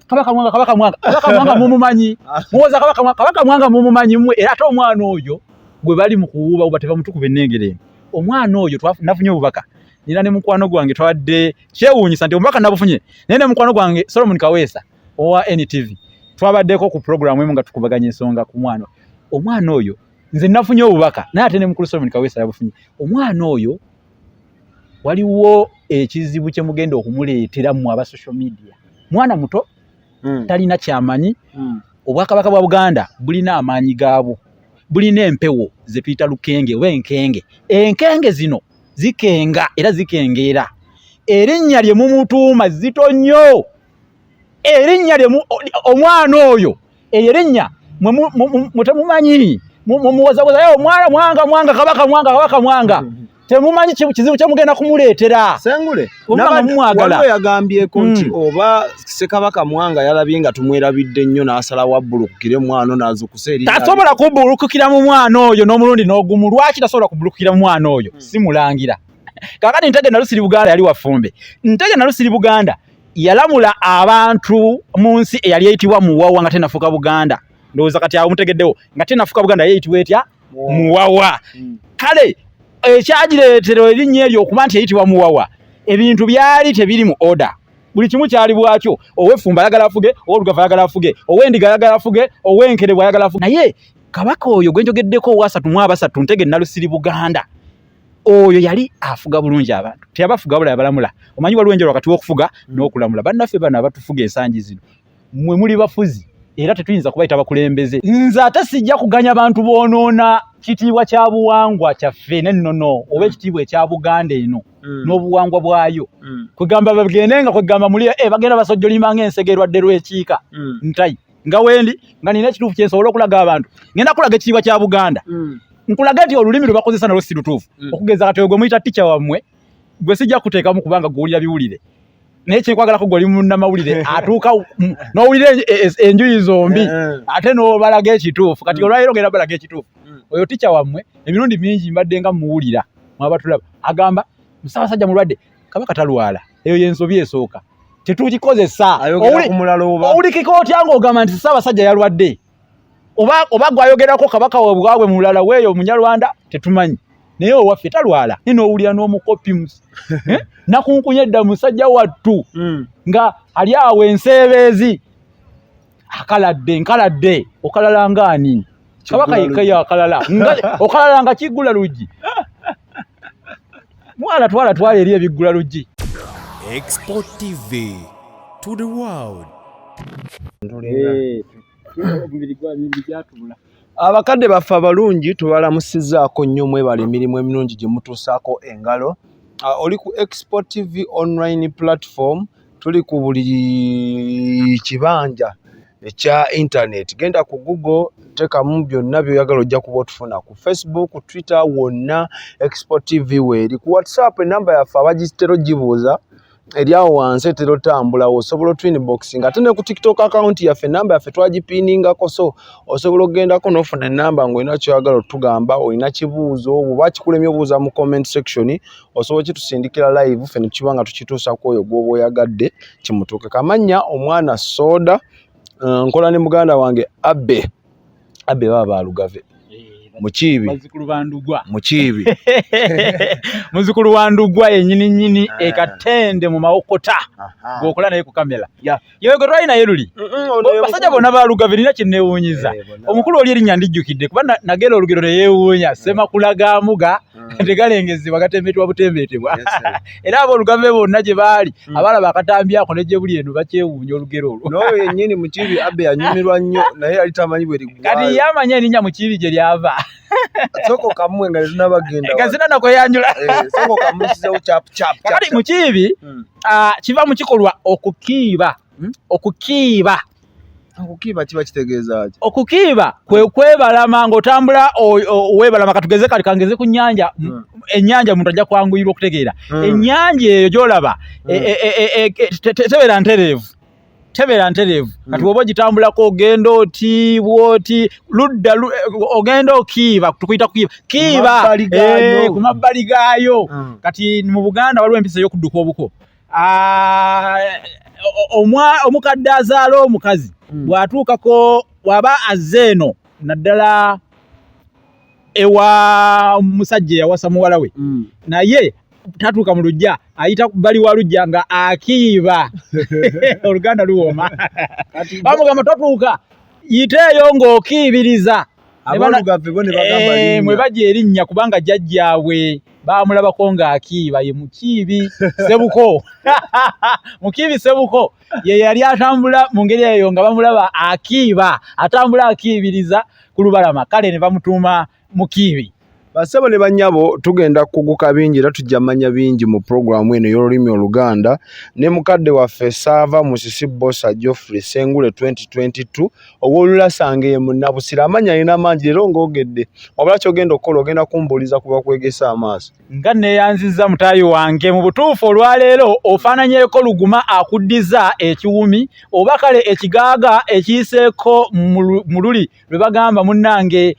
kabaka mwanga kabaka mwanga kabaka mwanga mumumanyi muwoza kabaka mwanga kabaka mwanga mumumanyi mwe era ate omwana oyo gwe bali mu kuwuuba uba teva mutukuba ennengere emu omwana oyo nafunye obubaka nina ne mukwano gwange twabadde kyewuunyisa nti omubaka nabufunye naye ne mukwano gwange solomon kaweesa owa ntv twabaddeko ku puroguramu emu nga tukubaganya ensonga ku mwana omwana oyo nze nafunye obubaka naye ate ne mukulu solomon kaweesa yabufunye omwana oyo waliwo ekizibu kye mugenda okumuleetera mu aba social media mwana muto mm. talina kyamanyi mm. obwakabaka bwa buganda bulina amaanyi gaabwo bulina empewo ze tuyita lukenge oba enkenge enkenge zino zikenga era zikengeera erinnya lye mumutuuma zito nnyo erinnya lye omwana oyo eyo erinnya mwe temumanyi mumuwozawoza yo mwana mwanga mwanga kabaka mwanga kabaka mwanga mm-hmm. temumanyi kizibu kyemugenda kumuleetera sengule waliwo yagambyeko nti mm. oba sekabaka mwanga yalabye nga tumwerabidde nnyo n'asala wabbulukukire mwana nazukusa eri tasobola kubbulukukira mu mwana oyo n'omulundi n'ogumu lwaki tasobola kubbulukukira mu mwana oyo mm. simulangira kakati ntege nalusiri buganda yali wafumbe ntege nalusiri buganda yalamula abantu mu nsi eyali eyitibwa muwawa nga tenafuka buganda ndowooza kati awo mutegeddewo nga tenafuka buganda yeyitibwa etya muwawa hmm. kale ekyagireetera erinnya eryo okuba nti eyitibwa muwawa ebintu byali tebiri mu oda buli kimu kyali bwakyo owefumba ayagala afuge owolugava ayagala afuge owendiga ayagala afuge owenkerebwa ayagala afuge naye kabaka oyo gwenjogeddeko owasatu mu abasatu ntege nalusiri buganda oyo yali afuga bulungi abantu teyabafuga bula yabalamula omanyi waliwo enjala wakati wokufuga mm. n'okulamula bannaffe bano abatufuga ensangi zino mwe muli bafuzi era tetuyinza kubayita bakulembeze nze ate sijja kuganya bantu boonoona kitiibwa kya buwangwa kyaffe nennono oba mm. ekitiibwa ekya buganda eno mm. n'obuwangwa bwayo mm. kwegamba bagende nga kwegamba muli e bagenda basojjolimba nga ensegerwadde lw'ekiika ntayi nga wendi nga nina ekituufu kyensobola okulaga abantu ngenda kulaga ekitiibwa kya buganda mm. nkulaga nti olulimi lwebakozesa nalwo si lutuufu mm. okugeza kati ogwe muyita tica wammwe gwe sijja kuteekamu kubanga gwewulira biwulire naye kyekwagalako gwe oli munamawulire atuuka nowulira enjuyi zombi eh, eh. ate nobalaga ekituufu kati mm. olwaliro ngenda balaga ekituufu oyo tica wammwe emirundi mingi mbadde nga muwulira mwabatulaba agamba musabasajja mulwadde kabaka talwala eyo yensobi esooka tetugikozesa owulikika otya ngaogamba nti ssaabasajja yalwadde oba gwayogerako kabaka webwabwe mulala weeyo munyarwanda tetumanyi naye owaffe talwala nina owulira n'omukopi eh? nakunkunya edda musajja wattu hmm. nga ali awo enseebeezi akaladde nkaladde okalala ngaani kabaka yekkayo akalala okalala nga kiggula luggi mwana twala twala eri ebiggula luggi export tv to the world eh, abakadde baffe abalungi tubalamusizaako nnyo mwebala emirimu emirungi gye mutuusaako engalo ah, oli ku export tv online platform tuli ku buli kibanja ekya internet genda ku google tekamu byonna byoyagala ojja kuba otufuna ku facebook twitter wonna export tv weeri ku whatsapp enamba yaffe abagitera ogibuuza eri awo wansi etera otambula osobola otwin boxing ate ne ku tiktok account yaffe enamba yaffe twagipiiningako so osobola okugendako nofuna enamba ngaolina kyoyagala otugamba olina kibuuzo oba kikulemye obuuza mu comment section osobola kitusindikira live fe nekiba nga tukituusa ku oyo gwoba oyagadde kimutuuke kamanya omwana soda eh, nkola ne muganda wange abe abe baba balugave mukiibi mukiibi muzukulu wa ndugwa yenyini nyini ah. ekatende mu mawokota gwokola naye ku kamera yego twalina ye luli basajja bona balugave nina kyenewunyiza eh, omukulu oli erinya ndijjukidde kuba nagera olugero neyewuunya eh. semakulagamuga hmm. tegalengezebwa gatembetebwa butembeetebwa era abo olugave bonna gye baali hmm. abalaba akatambi ako nejje buli eno bakyewuunya olugero olwo noyo yenyini mukibi abe anyumirwa nnyo naye yali tamanyi bwe liggwaayo kati yamanya erinya mukibi gye lyava soko kamwe nga zina bagenda nga zina nako yanjula eh, soko kamwe size uchap chap chap kali mukibi hmm. ah kiva mukikolwa okukiba hmm? okukiba okukiba kiba kitegeeza ki okukiba kwe kwebalama ng'otambula webalama katugeze kali kangeze ku nyanja hmm. enyanja omuntu ajja kwanguyirwa okutegeera enyanja eyo gyolaba e, e, e, tebeera ntereevu tebera nterevu hmm. kati woba ogitambulako ogenda oti bwoti ludda eh, ogenda okiiba tukuyita kukiiba kiiba ku mabbali eh, gaayo hmm. kati mu buganda waliwo empisa ey'okudduka obuko ah, omukadde azaala omukazi hmm. bw'atuukako waba azze eno naddala ewa musajja yawasa muwala we mm. naye tatuuka mu lujja ayita bali wa lujja nga akiiba oluganda luwooma bamugamba tatuuka yiteeyo ng'okiibiriza eh, mwe baja erinnya kubanga jajjaabwe bamulabako ng'akiiba ye mukiibi sebuko mukiibi sebuko ye yali atambula mu ngeri eyo nga bamulaba akiiba atambula akiibiriza ku lubalama kale ne bamutuuma mukiibi basebo ne banyabo tugenda kuguka bingi era tujja manya bingi mu programu eno ey'olulimi oluganda ne mukadde waffe saava musisi bosa geoffrey sengule 2022 ow'olulasanga eye munnabusira amanya alina mangi leero ng'ogedde wabula kyogenda okukola ogenda kumbuuliza ku bakwegesa amaaso nga neyanziza mutayi wange mu butuufu olwaleero ofaananyeko luguma akuddiza ekiwumi oba kale ekigaaga ekiyiseeko mu luli lwe bagamba munnange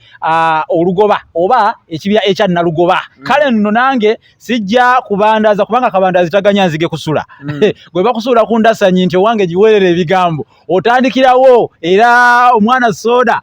olugoba oba ekibya ekya nalugoba mm. kale nno nange sijja kubandaza kubanga kabandazi taganya nzige kusula mm. gwe bakusuula ku ndasanyi nti owange giweerera ebigambo otandikirawo era omwana sooda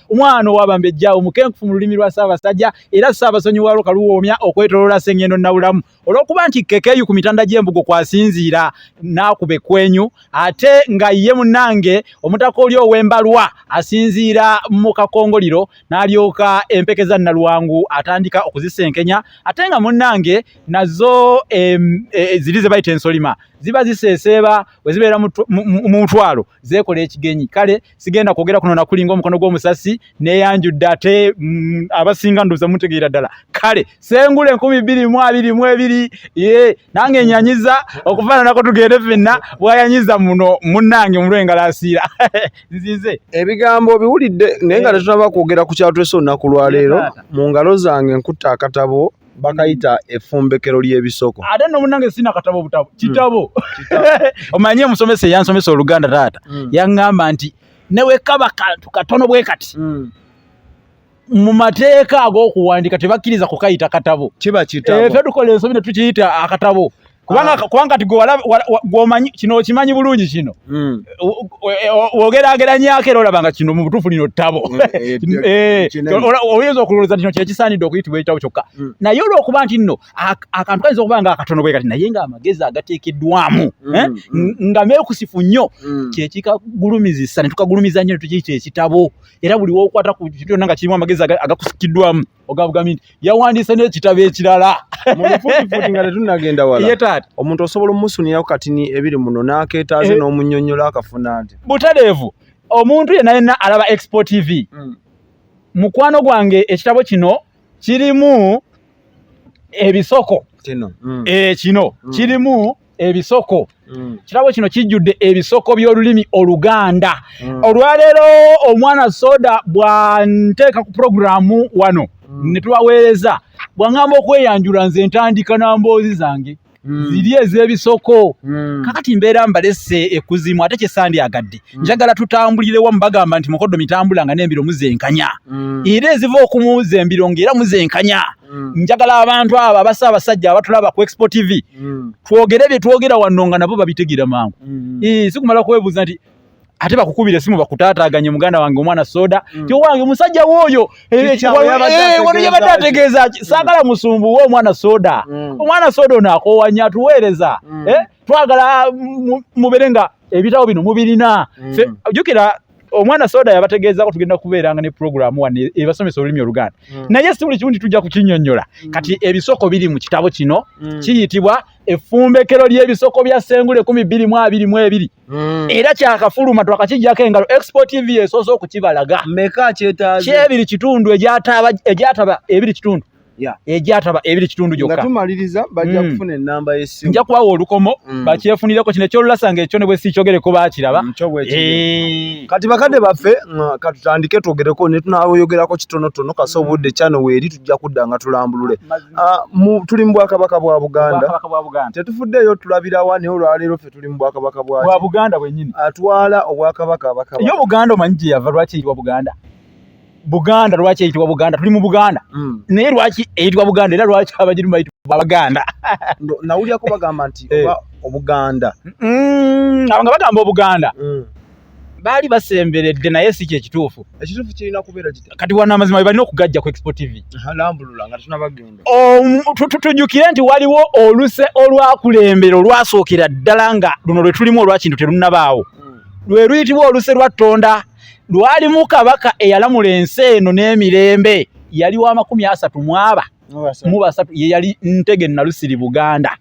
omwana owabambejja omukenkufu mu lulimi lwa ssaabasajja era ssaabasonyiwalo kaluwoomya okwetoloola sengendo nabulamu olwokuba nti kekeyu ku mitanda gy'embugo kwasinziira n'akuba ekwenyu ate nga ye munange omutaka oli ow'embalwa asinziira mu kakongoliro n'alyoka empeke za nalwangu atandika okuzisenkenya ate nga munange nazo e, ziri ze bayita ensolima ziba ziseeseeba bwe zibeera mu mutwalo zeekola ekigenyi kale sigenda kwogera kuno nakulinga omukono gw'omusasi neyanjudde ate mm, abasinga nduza mutegeera ddala kale sengula enkumi bbiri mu abiri mu ebiri ye nange enyanyiza okufaananako tugende fenna bwayanyiza muno munnange mulwe engalasiira nzize ebigambo obiwulidde naye nga eh. tetunaba kwogera ku kyatulese olunaku lwaleero mu ngalo zange nkutte akatabo bakayita efumbekero ly'ebisoko ate no munange sina katabo butabo hmm. kitabo omanyi omusomesa eyansomesa oluganda taata hmm. yaŋŋamba nti newekaba kantu katono bwe kati hmm. mu mateeka ag'okuwandika tebakkiriza kukayita katabo kiba kitabo eh, fe tukola ensobi ne tukiyita akatabo kubanga ah. kubanga kati gwomanyi kino okimanyi bulungi kino hmm. wogerageranyako era olaba nga kino mubutuufu lino ttabo hmm, eh, eh, eh, oyinza okulowooza kino kyekisaanidde okuyitibwa ekitabo kyokka hmm. naye olwokuba nti nno akantu kayinza okuba nga akatono bwe kati naye nga amagezi agateekeddwamu nga meekusifu nnyo kyekikagulumizisa ne tukagulumiza nnyo netukiyita ekitabo era buli wokwata ku kyonna nga kirimu amagezi agakusikiddwamu ogavuga minti yawandiise n'ekitabo ekirala mubufuutifuuti nga tetunnagenda wala ye taata omuntu osobola omusunirako katini ebiri muno n'akeetaaze eh. n'omunyonyola akafuna nti butadeevu omuntu yenna yenna alaba expo tv hmm. mukwano gwange ekitabo kino kirimu ebisoko kino hmm. eh, hmm. kirimu ebisoko mm. kirabo kino kijjudde ebisoko by'olulimi oluganda mm. olwaleero omwana soda bwanteeka ku puroguramu wano mm. ne tubaweereza bwaŋamba okweyanjula nze ntandika na mboozi zange mm. ziri ez'ebisoko mm. kakati mbeera mbalese ekuzimu ate kyesandyagadde mm. njagala tutambulirewo mubagamba nti mukoddo mitambula nga n'embiro muzenkanya mm. era eziva okumuzeembiro ng'era muzenkanya mm. njagala abantu abo abasa abasajja abatulaba ku expo tv mm. twogere bye twogera wano nga nabo babitegeera mangu mm. e, sikumala kwebuuza nti ate bakukubira esimu bakutaataaganye muganda wange omwana soda mm. ti owange omusajja wooyo eh, eh, wano yabadde ategeeza mm. saagala musumbu we omwana soda mm. omwana soda ono akowanya atuweereza mm. eh, twagala mm, mubere nga ebitabo bino mubirina mm. jukira omwana soda yabategeezako tugenda kubeeranga ne pulogulaamu wano e-, ebasomesa olulimi oluganda mm. naye si buli kimu nti tujja kukinyonyola mm. kati ebisoko biri mu kitabo kino mm. kiyitibwa effumbekero ly'ebisoko bya sengula ekumi bbiri mu abiri mu ebiri mm. era kyakafuluma twakakijjako engalo expo tv esoose okukibalaga meka kyetaze kyebiri kitundu egyataba ebiri kitundu egyataba ebiri kitundu gyokka tumaliriza bajja mm. kufuna enamba yesimu nja kubawa olukomo mm. bakyefunireko kino ekyolulasa nga ekyo ne bwe sikyogereko bakiraba mm, eh. kati bakadde baffe katutandike twogereko ne tunayogerako kitonotono kasa obudde kyano weeri tujja kudda nga tulambulule ah, tuli mu bwakabaka bwa buganda tetufuddeeyo tulabirawa naye olwaleero ffe tuli mu bwakabaka bwa buganda bwenyini atwala obwakabaka abakaba yo buganda omanyi gye yava lwaki eyitibwa buganda Buganda lwaki eyitibwa Buganda? Tuli mu Buganda. Mm. Naye lwaki eyitibwa Buganda era lwaki abajirimu bayitibwa Baganda? no, nawulira ko bagamba nti eh. oba Obuganda. Mm, abanga bagamba Obuganda. Mm. Baali basemberedde naye si kye kituufu. Ekituufu kirina kubeera kiti. Kati wana amazima balina okugajja ku Expo TV. Lambulula nga tunabagenda. Um, tujukire nti waliwo oluse olwakulembera olwasookera ddala nga luno lwe tulimu olwakintu terunabaawo. Mm. Lwe luyitibwa oluse lwa Tonda. lwalimu kabaka eyalamula ensi eno n'emirembe yali wa makumi asatu mwaba mu basatu ye yali ntege nalusiri buganda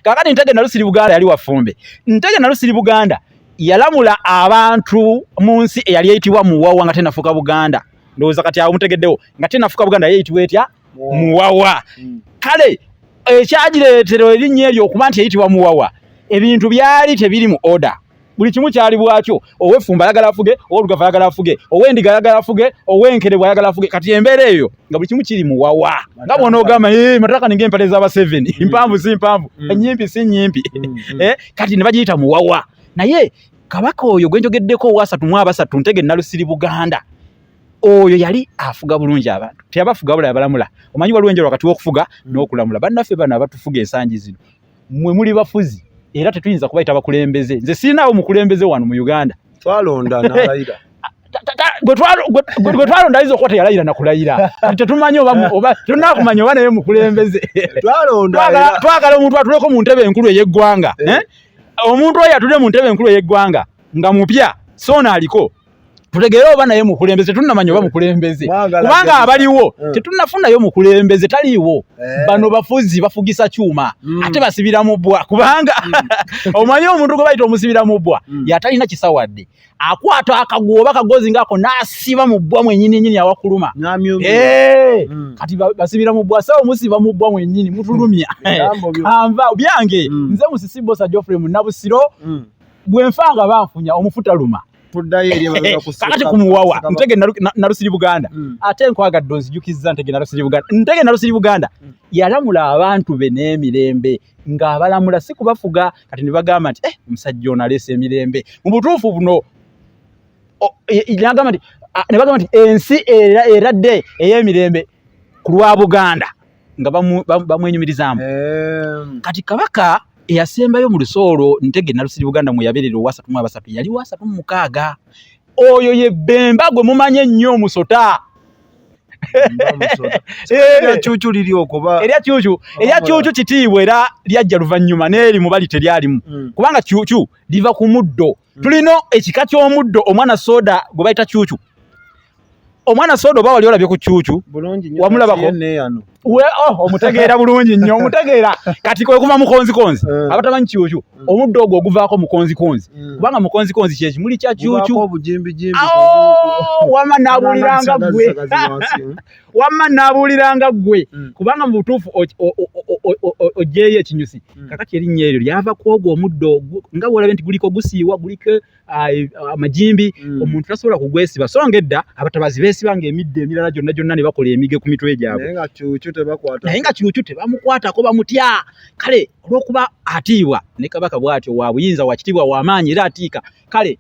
kakati ntege nalusiri buganda yali wafumbe ntege nalusiri buganda yalamula abantu mu nsi eyali eyitibwa muwawa nga tenafuka buganda ndowooza kati awo mutegeddewo nga tenafuka buganda yeyitibwa etya muwawa hmm. kale ekyagireetera erinnya eryo okuba nti yeyitibwa muwawa ebintu byali tebiri mu order buli kimu kyali bwakyo owefumba ayagala afuge owolugava ayagala afuge owendiga ayagala afuge owenkerebwa ayagala afuge kati embeera eyo nga buli kimu kiri muwawa nga bona ogamba eh, mataka ninga empale zaba seven mm. mpanvu si mpanvu mm. enyimpi si nyimpi mm, eh, kati ne bagiyita muwawa naye kabaka oyo gwenjogeddeko owasatu mu abasatu ntege nalusiri buganda oyo yali afuga bulungi abantu teyabafuga bula yabalamula omanyi waliwo enjala wakati wokufuga mm. nokulamula bannaffe bano abatufuga ensangi zino mwe muli bafuzi era tetuyinza kubayita bakulembeze nze sirinaawo mukulembeze wano mu uganda twalonda nalayira gwe twalonda ayinza okuba teyalayira nakulayira tetumanyi tetunakumanya oba naye mukulembeze twagala omuntu atuleko mu ntebe enkulu ey'eggwanga eh. Eh? omuntu oyo atudde mu ntebe enkulu ey'eggwanga nga mupya soona aliko tutegeere oba naye mukulembeze tetunnamanya oba mukulembeze kubanga abaliwo eh. tetunnafunayo mukulembeze taliiwo eh. bano bafuzi bafugisa kyuma hmm. ate basibira mu bbwa kubanga hmm. omanyi omuntu gwe bayita omusibira mu bbwa hmm. yatalina kisawadde akwata akaguwa oba kagozi ngaako n'asiba mu bbwa mwenyini nyini awakuluma eh. kati basibira mu bbwa sa omusiba mu bbwa mwenyini mutulumya kanva byange nze musisibosa geoffrey munabusiro bwenfa nga banfunya omufutaluma kakati kumuwawa ntege narusiri buganda hmm. ate nkwagadde onzijukizza ntege narusiri buganda ntege narusiri buganda hmm. yalamula abantu be n'emirembe ng'abalamula si kubafuga kati ne bagamba nti eh, omusajja ono aleesa emirembe mu butuufu buno nagamba nti ne bagamba nti ensi eradde ey'emirembe ku lwa buganda nga bamwenyumirizaamu ehm. kati kabaka eyasembayo mu luso olwo ntege nalusiri buganda mweyaberera owasatu mu abasatu yali wasatu mu mukaaga oyo ye bemba gwe mumanyi ennyo omusota eryakyukyu kitiibwa era lyajja luvannyuma neeri mubali teryalimu hmm. kubanga kyukyu liva ku muddo tulina ekika ky'omuddo omwana soda gwe bayita kyukyu omwana soda oba wali olabye ku kyukyu wamulabako oh, omutegeera bulungi nnyo omutegeera kati kwekuva mukonzikonzi eh. abatamanyi kyukyu hmm. omuddo ogwo oguvaako mukonzikonzi hmm. kubanga mukonzikonzi kyekimuli kya kyukyu wama nabuliranga gwe wamma naabuuliranga ggwe mm. kubanga mu butuufu oggyeyo ekinyusi mm. kakati erinnya eryo lyava ku ogwo omuddo nga bwolabye nti guliko gusiiwa guliko amajimbi mm. omuntu tasobola kugwesiba so nga edda abatabazi beesiba nga emidde emirala gyonna gyonna ne bakola emige ku mitwe gyabwe naye nga kyukyu tebamukwatako bamutya kale olw'okuba atiibwa ne kabaka bw'atyo wa buyinza wa kitiibwa wa maanyi era atiika kale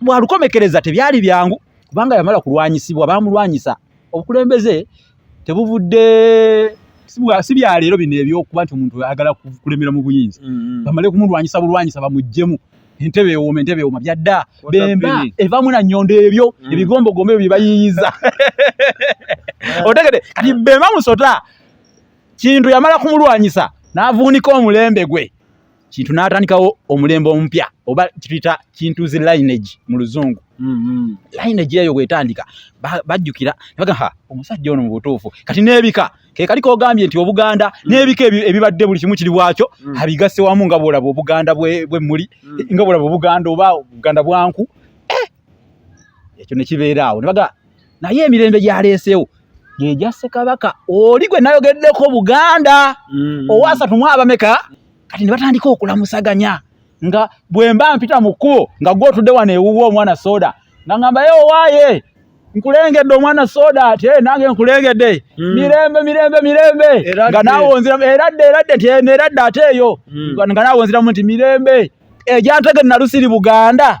bwalukomekereza tebyali byangu kubanga yamala kulwanyisibwa bamulwanyisa obukulembeze tebuvudde si bya leero bino ebyokuba nti omuntu ayagala kulemera mu buyinza mm-hmm. bamale kumulwanyisa bulwanyisa bamuggyemu entebe ewoma entebe ewoma byadda bemba evamu na nyondo ebyo mm. ebigombogombo ebyo byebayiyiza otegede kati bemba musota kintu yamala kumulwanyisa n'avuunika omulembe gwe kintu n'atandikawo omulembe omupya oba kituyita kintu zi lineage mu luzungu mm-hmm. lineage eyo bwetandika bajjukira nebagaa omusajja ono mu butuufu kati n'ebika kekali kogambye nti obuganda mm. n'ebika ebibadde buli kimu kiri bwakyo mm. abigasse wamu nga bwolaba obuganda bwemuli mm. nga bwolaba obuganda oba obuganda bwanku eh! ekyo nekibeeraawo nebagaa naye emirembe gyaleeseewo gyegyasse kabaka oli gwe nayogeddeko buganda owasatu mwabameka kati ne batandika okulamusaganya nga bwemba mpita mu kkubo nga gwe otudde wano ewuwa omwana soda nga ngamba ye owaaye nkulengedde omwana soda ate eh, nange nkulengedde hmm. mirembe mirembe mirembe nga naawonziramu eradde eradde nti eh, eradde ate eyo hmm. nga naawonziramu nti mirembe egyantege nalusiri buganda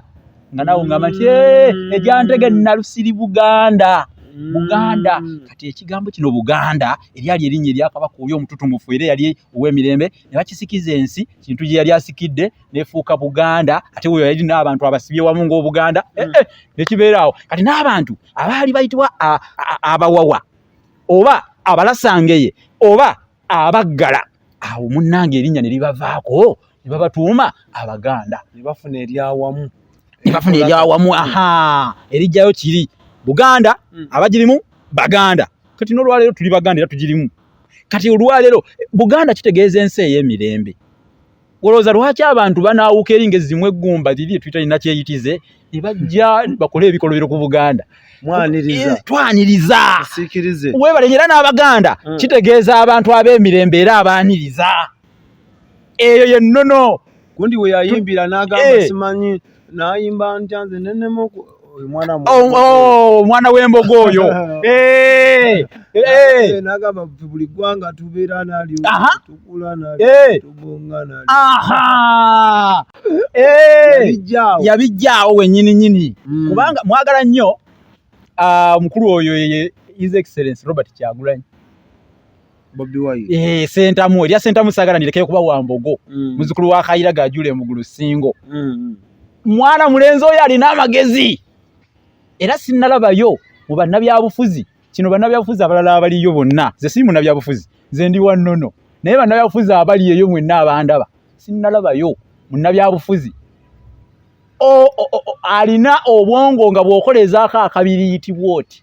nga nawe ngamba nti eh, mm. egyantege nalusiri buganda mm. buganda kati ekigambo kino buganda eryali erinnya eryakabaka oli omututumufu era yali ow'emirembe ne bakisikiza ensi kintu gye yali asikidde nefuuka buganda ate weyo yali n'abantu abasibye wamu ng'obuganda eh, mm. eh, nekibeeraawo kati n'abantu abaali bayitibwa abawawa oba abalasangeye oba abaggala awo munnange erinnya ne libavaako ne babatuuma abaganda ne bafuna eryawamu ne bafuna eryawamu aha erijjayo kiri buganda hmm. abagirimu baganda kati n'olwaleero tuli baganda era tugirimu kati olwaleero buganda kitegeeza ensi ey'emirembe olowooza lwaki abantu banaawuka eri nga ezimu eggumba liri etwitalina kyeyitize ne bajja bakole ebikolobero ku buganda Eh, twaniriza webale era n'abaganda hmm. kitegeeza abantu ab'emirembe era abaaniriza eyo yennono gundi weyayimbira n'agamba eh. simanyi nayimba ntya nze nenema omwana oh, oh, w'embogo oyo eh, eh, eh. nagamba buli ggwanga tubeera nalyo tukula nalyo tubonga nalyo yabijjaawo wenyini nyini mm. kubanga mwagala nnyo ah, omukulu oyo ye his excellence robert kyagulanyi Bobi Wine. Eh, sentamu, ya sentamu sagala nilekeye kuba wa mbogo. Mm. Muzukulu wa Khaira gajule mugulu singo. Mm. Mwana mulenzo yali na magezi. Era sinalaba yo mu banna bya bufuzi. Kino banna bya bufuzi abalala abali yo bonna. Ze simu na bya bufuzi. Ze ndi wa nono. Naye banna bya bufuzi abali yo mwe na bandaba. Sinalaba yo mu na bya bufuzi. O, o, o, o alina obwongo nga bwokoleza akakabiri yitibwoti.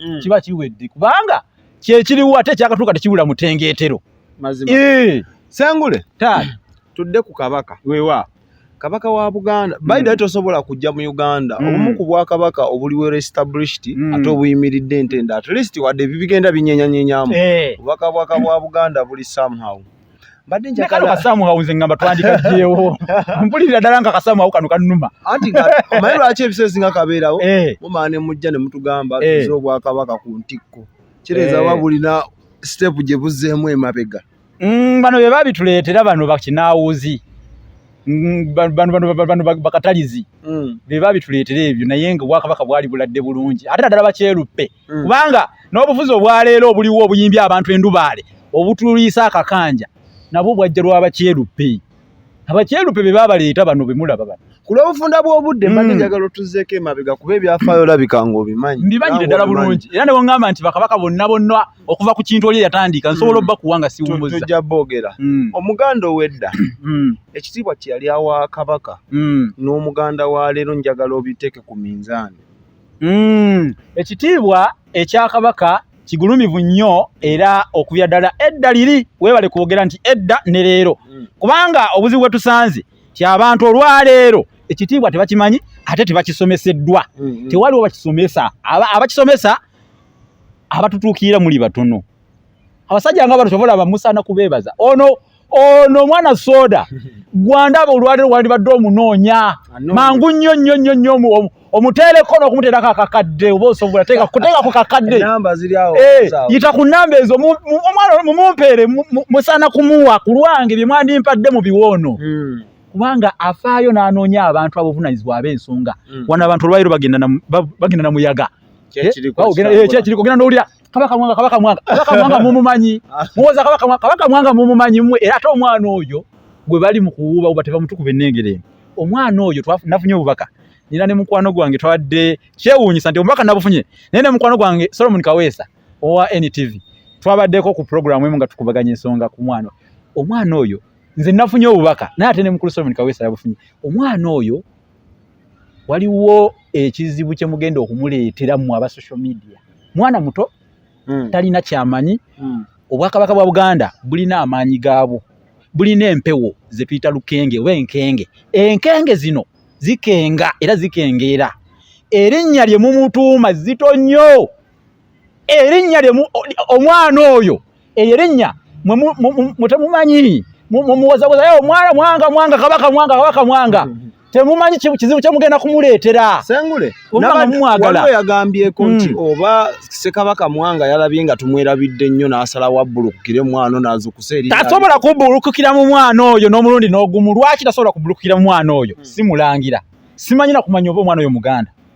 mm. kiba kiwedde kubanga kyekiriwo ate ekyakatuuka tekiwula mutengeetero eh. sengule tudde ku kabaka wewa kabaka wa buganda mm. bayidali tosobola kujja mu uganda mm. obumu ku bwakabaka obuliwo restablished mm. ate obuyimiridde entende at least wadde ebibigenda binyenyanyenyamu eh. obubaka bwaka bwa buganda buli somehow mbadde njagala kasamu hauze ngamba twandika jewo mpulira dala nga kasamu au kanu kanuma anti nga mayi lwaki ebisezi nga kabeerawo eh. mumane mujja ne mutugamba eh. tuzo bwa kabaka ku ntikko kireza eh. babulina step je buzeemu emabega mm, bano be babituleetera bano bakinawuzi mm, bano bakatalizi mm. be babituleetera ebyo naye nga obwakabaka bwali buladde bulungi ate naddala bakyeruppe mm. kubanga n'obufuzi obwaleero obuliwo obuyimbya abantu endubaale obutuliisa akakanja nabwo bwajja lwabakyerupe abakyerupe be babaleeta bano bemulaba bano ku lw'obufunda bw'obudde mm. mbadde njagala otuzeeko emabega kuba ebyafaayo olabika nga obimanyi mbimanyire ddala bulungi era ne bongamba nti bakabaka bonna bonna okuva ku kintu oli eyatandika nsobola mm. obbakuwa nga siwumuzza tujja boogera mm. omuganda ow'edda ekitiibwa kye yali awa kabaka n'omuganda wa leero njagala obiteeke ku minzaani Mm, ekitiibwa ekya kabaka kigulumivu nnyo era okubya ddala edda liri weebale kwogera nti edda ne leero mm. kubanga obuzibu bwe tusanze ti abantu olwaleero ekitiibwa tebakimanyi ate tebakisomeseddwa mm, mm. tewaliwo bakisomesa abakisomesa abatutuukirira muli batono abasajja nga bano tobalaba musaana kubeebaza ono ono omwana soda gwandaba olwaliro wandibadde omunoonya mangu nnyo nnyo nnyo nnyo omuteereko n'okumuteerako akakadde oba osobola teeka ku kakadde eh, yita ku namba ezo omwana mumumpeere musaana kumuwa ku lwange bye mwandimpadde mu biwoono hmm. kubanga afaayo n'anoonya abantu abovunanyizibwa ab'ensonga hmm. wano abantu olwaliro bagenda na muyaga kyekiriko eh, eh, ogenda n'owulira kabaka mwanga kabaka mwanga kabaka mwanga mumumanyi muwoza kabaka mwanga kabaka mwanga mumumanyi mwe era ate omwana oyo gwe bali mu kuwuuba uba teva mutukuba ennengere eno omwana oyo nafunye obubaka nina ne mukwano gwange twadde kyewuunyisa nti omubaka nabufunye naye ne mukwano gwange solomon kaweesa owa ntv twabaddeko ku pulogulaamu emu nga tukubaganya ensonga ku mwana omwana oyo nze nafunye obubaka naye ate ne mukulu solomon kaweesa yabufunye omwana oyo waliwo ekizibu kye mugenda okumuleetera mu aba social media mwana muto mm. talina kyamanyi mm. obwakabaka bwa buganda bulina amaanyi gaabwo bulina empewo ze tuyita lukenge oba enkenge enkenge zino zikenga era zikengeera erinnya lye mumutuuma zito nnyo erinnya lye omwana oyo eyo erinnya mwe temumanyi mumuwozawoza yo mwana mwanga mwanga kabaka mwanga kabaka mwanga mm-hmm. temumanyi kizibu kyemugenda kumuleetera sengule waliwo yagambyeko nti mm. oba sekabaka mwanga yalabye nga tumwerabidde nnyo n'asala wabbulukukira omwana nazukusa eri tasobola kubbulukukira mu mwana oyo n'omulundi n'ogumu lwaki tasobola kubbulukukira mu mwana oyo mm. simulangira simanyi nakumanya oba omwana oyo muganda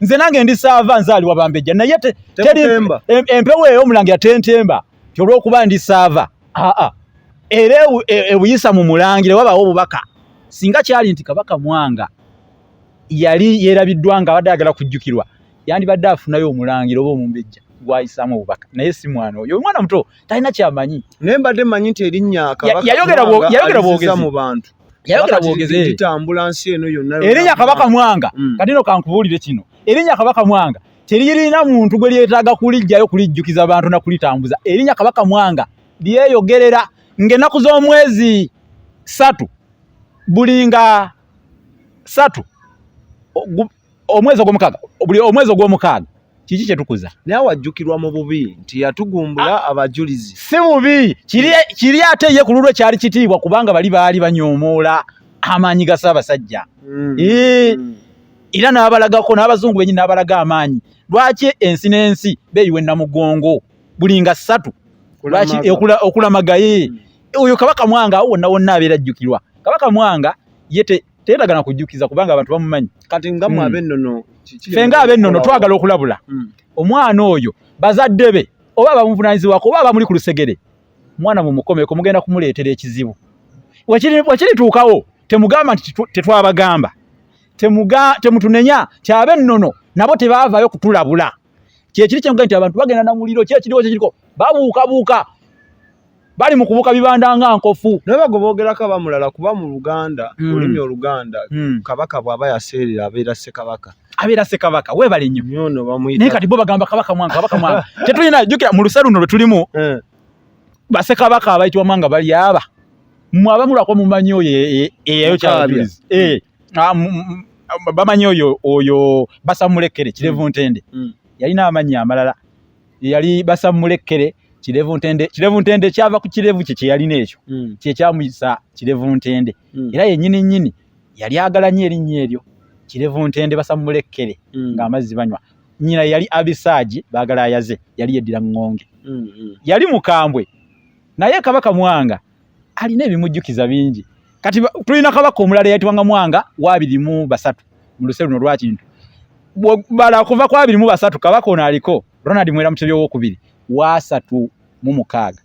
nze nange ndi saava nzaalibwa bambejja naye teri empewo eyo omulangira tentemba kyolwokuba ndi saava aa era ebuyisa e, mu mulangira wabaawo obubaka singa kyali nti kabaka mwanga yali yerabiddwa nga abadde agala kujjukirwa yandibadde afunayo omulangira oba omumbejja gwayisaamu obubaka naye si mwana oyo omwana muto talina kyamanyi naye mbadde manyi nti erinnya kabaka yayogera bwogezi mu bantu erinya kabaka mwanga mm. katino kankubuulire kino erinya kabaka mwanga teririna muntu gwe lyetaaga kulijjayo kulijjukiza bantu nakulitambuza erinya kabaka mwanga lyeyogerera ngaenaku z'omwezi satu bulinga satu omwezi ogwomukaaga buli omwezi ogwomukaaga kiki kyetukuza naye awajjukirwa mu bubi nti yatugumbula ah. abajulizi si bubi kiri ate ye ku lulwe kyali kitiibwa kubanga bali baali banyoomoola amaanyi ga ssaabasajja hmm. Hmm. era n'abalagako n'abazungu benyi n'abalaga amaanyi lwaki ensi n'ensi beeyiwa ennamugongo buli nga ssatu lwaki okulamagaye hmm. oyo kabaka mwanga awo wonna wonna abeera ajjukirwa kabaka mwanga yete teetaga na kujjukiza kubanga abantu bamumanyi kati nga mwe hmm. abennono ffe nga abennono twagala okulabula hmm. omwana oyo bazadde be oba abamuvunanyizibwako oba abamuli ku lusegere mwana mumukomeko mugenda kumuleetera ekizibu wekirituukawo temugamba nti tetwabagamba temutunenya ti abennono nabo tebaavayo kutulabula kyekiri kyenga nti abantu bagenda na muliro kyekiriwo kyekiriko babuukabuuka bali mu kubuka bibanda nga nkofu naye bago boogerako abamulala kuba mu luganda hmm. olulimi oluganda hmm. kabaka bw'aba yaseerera abeera ssekabaka abeera ssekabaka weebale nnyo naye kati bo bagamba kabaka mwanga kabaka mwanga tetulina jjukira mu lusa luno lwe tulimu eh. basekabaka abayitibwa mwanga bali aba mwe abamulako mumanyi oyo eyayo kyabirizi ah, bamanyi oyo oyo basamulekere kirevu mm. ntende mm. yalina amannya amalala yali basamulekere kirevu ntende kirevu ntende kyava ku kirevu kye kyeyalina ekyo mm. kyekyamuyisa kirevu ntende era yenyini nyini yali agala nyo erinnya eryo kirevu ntende basamulekere ng'amazzi banywa nyina yali abisaaji bagala ayaze yali yeddira ŋŋonge yali mukambwe naye kabaka mwanga alina ebimujjukiza bingi kati tulina kabaka omulala eyayitibwanga mwanga waabiri mu basatu mu luse luno lwakintu bala okuva ku abiri mu basatu kabaka ono aliko ronald mwera mutebi owokubiri waasatu mu mukaaga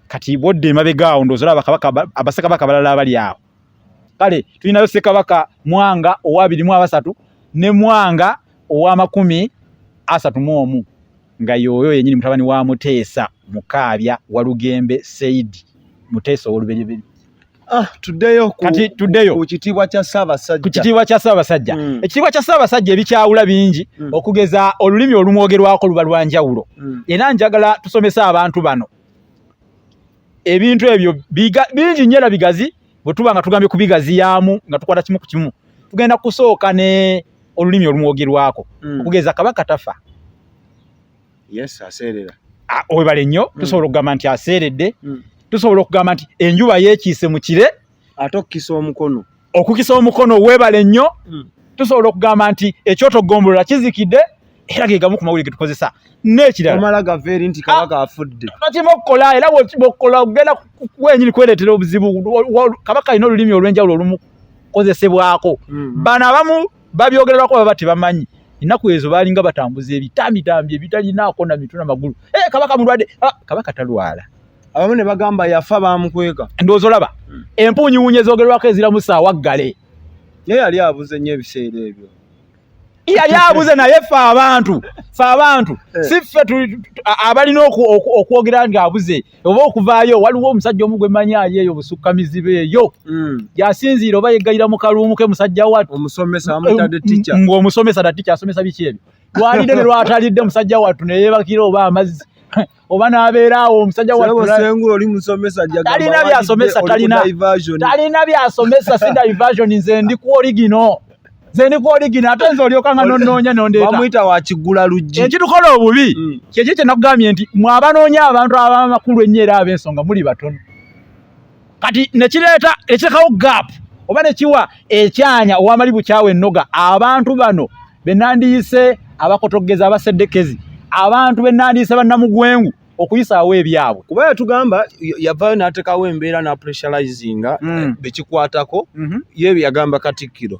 kati bwodda emabega awo ndoozi olaba kabaka abasekabaka balala abali awo kale tulinayo sekabaka mwanga owabiri mu abasatu ne mwanga owamakumi asatu mu omu nga yooyo yenyini mutabani wa muteesa mukaabya walugembe said muteesa owoluberyeberi ah, kukitiibwa kya ssaabasajja hmm. ekitiibwa kya ssaabasajja ebikyawula bingi hmm. okugeza olulimi olumwogerwako luba lwanjawulo hmm. era njagala tusomese abantu bano ebintu ebyo bingi nnyo era bigazi bwe tuba nga tugambye kubigaziyaamu nga tukwata kimu ku kimu tugenda kusooka ne olulimi olumwogerwako hmm. okugeza kabaka tafa webale nnyo hmm. tusobola okugamba nti aseeredde hmm. tusobola okugamba nti enjuba yekiise mu kire ate okukisa omukono okukisa omukono webale nnyo hmm. tusobola okugamba nti ekyoto gombolola kizikidde era gegamu ku mawulire getukozesa nekirala nokirima okukola era bwokukola ogenda wenyini kweretera obuzibu kabaka alina olulimi olwenjawulo olumukozesebwako hmm. bano abamu babyogererwako baba tebamanyi ennaku ezo balinga batambuza ebitamitambi ebitalinaako na mituna magulu eh, kabaka mulwadde ah, kabaka talwala abamu ne bagamba yafa baamukweka ndowooza olaba hmm. empuunyi wuunye zoogerwako eziramu saawa ggale naye yali abuze nnyo ebiseera ebyo yali abuze naye ffe abantu ffe abantu eh. si ffe abalina okwogera nga abuze oba okuvaayo waliwo omusajja omu gwe manyi ali eyo busukka mizibe eyo hmm. yasinziira oba yeggayira mu kaluumu ke musajja wattu ng'omusomesa da ticca asomesa biki ebyo lwalidde ne lwatalidde musajja wattu ne yeebakira oba amazzi oba n'abeera awo omusajja wasengula oli musomesa talina byasomesa talina talina byasomesa si diversion nze ndi ku oligino nze ndi ku oligino ate nze olyoka nga nonoonya nondeetawamuyita wakigula luggi ekitukola obubi mm. kyekyo kyenakugambye nti mwabanoonya abantu abamakulu ennyo era ab'ensonga muli batono kati nekireeta ekirekawo gap oba nekiwa ekyanya owamali bukyawa ennoga abantu bano benandiyise abakotogeza abaseddekezi abantu benandiyise bannamugwengu okuyisaawo ebyabwe kuba yatugamba yavayo natekawo embeera na pressurizinga mm. bekikwatako mm -hmm. ye yagamba katikkiro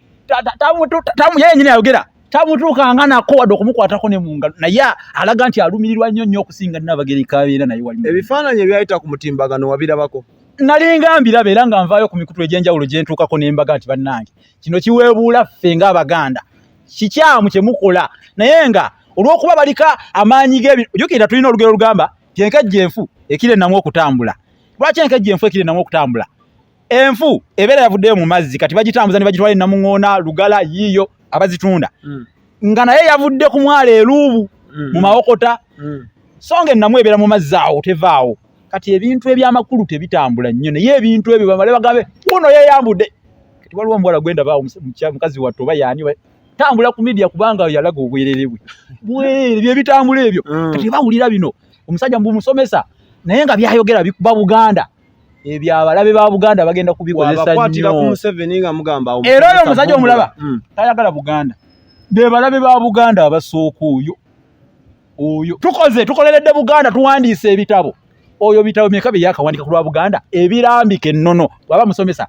tamu yeye nyine ayogera tamutuukanga nako wadde okumukwatako ne mu ngalo naye alaga nti alumirirwa nnyo nnyo okusinga nnabagereka abeera naye wali ebifaananyi ebyayita ku mutimbagano wabirabako nalinga mbiraba era nga nvaayo ku mikutu egy'enjawulo gye ntuukako ne mbaga nti bannange kino kiweebuula ffe ng'abaganda kikyamu kye mukola naye nga olw'okuba balika amaanyi g'ebintu ojukirira tulina olugero olugamba ti enkejje enfu ekira ennamu okutambula lwaki enkejje enfu ekira ennamu okutambula enfu ebeera yavuddeyo mu mazzi kati bagitambuza ne bagitwala enamuŋoona lugala yiiyo abazitunda mm. nga naye yavudde ku mwalo eluubu mm. mu mawokota mm. so nga ennamu ebeera mu mazzi awo tevaawo kati ebintu ebyamakulu tebitambula nnyo naye ebintu ebyo bamale bagambe wuno yeyambudde kati waliwo omuwala gwendabaawo mukazi wattu oba yaani tambula ku midia kubanga yalaga obwerere bwe bwerere bye bitambula ebyo mm. kati bawulira bino omusajja mbu musomesa naye nga byayogera bikuba buganda ebyo abalabe ba Buganda bagenda kubikozesa nnyo. Era oyo omusajja omulaba hmm. tayagala Buganda, be balabe ba Buganda abasooka oyo oyo. Tukoze tukoleredde Buganda, tuwandiise ebitabo oyo bitabo meka bye yakawandika ku lwa Buganda ebirambika ennono bwaba musomesa